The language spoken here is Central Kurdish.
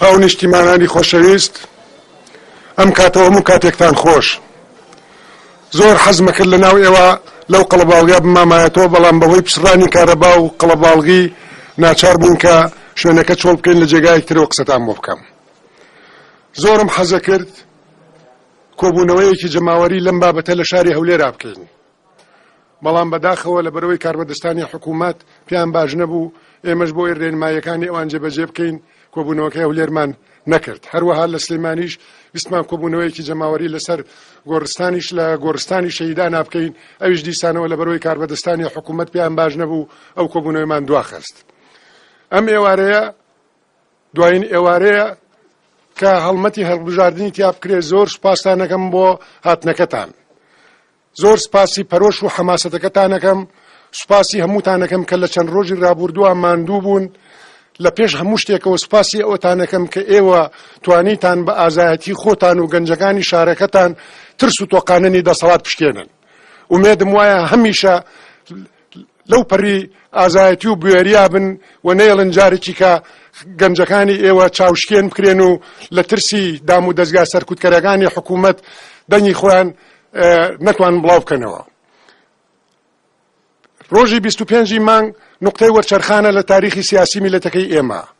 هاونیشتیمانانی خۆشەویست، ئەم کاتە و هەموو کاتێکتان خۆش. زۆر حەزمەکرد لەناو ئێوە لەو قەڵەباڵغیا بمامایەتەوە، بەڵام بەهۆی پچڕانی کارەبا و قەڵەباڵغی ناچار بووین کە شوێنەکە چۆڵ بکەین، لە جێگایەکی ترەوە قسەتان بۆ بکەم. زۆرم حەزەکرد کۆبوونەوەیەکی جەماوەری لەم بابەتە لە شاری هەولێرا بکەین. بەڵام بەداخەوە لەبەرئەوەی کاربەدەستانی حکوومەت پێیان باش نەبوو، ئێمەش بۆ ئەوەی رێنماییەکانی ئەوان جێبەجێ بکەین، کۆبوونەوەکەی هەولێرمان نەکرد. هەروەها لە سلێمانیش ویستمان کۆبوونەوەیەکی جەماوەری لەسەر گۆڕستانیش لە گۆڕستانی شەهیدانا بکەین، ئەویش دیسانەوە لەبەرئەوەی کاربەدەستانی حکوومەت پێیان باش نەبوو، ئەو کۆبوونەوەیمان دواخست. ئەم ئێوارەیە دوایین ئێوارەیە کە هەڵمەتی هەڵبژاردنی تیا بکرێت، زۆر سوپاستان ئەکەم بۆ هاتنەکەتان. زۆر سپاسی پەرۆش و حەماسەتەکەتانەکەم، سوپاسی هەمووتانەکەم کە لە چەند رۆژی رابووردووا ماندوو بوون، لە پێش هەموو شتێکەوە سوپاسی ئەوتانەکەم کە ئێوە توانیتان بە ئازایەتی خۆتان و گەنجەکانی شارەکەتان ترس و تۆقاننی دەسەڵات بشکێنن. ئومێدم وایە هەمیشە لەو پەڕی ئازایەتی و بوێریا بن و نەیەڵن جارێکی کە گەنجەکانی ئێوە چاوشکێن بکرێن و لە ترسی دام و دەستگا سەرکوتکەرەکانی حکوومەت دەنگی خۆیان نەتوان بڵاو بکەنەوە. ڕۆژی 25 مانگ نقطەی وەرچەرخانە لە تاریخی سیاسی میلەتەکەی ئێمە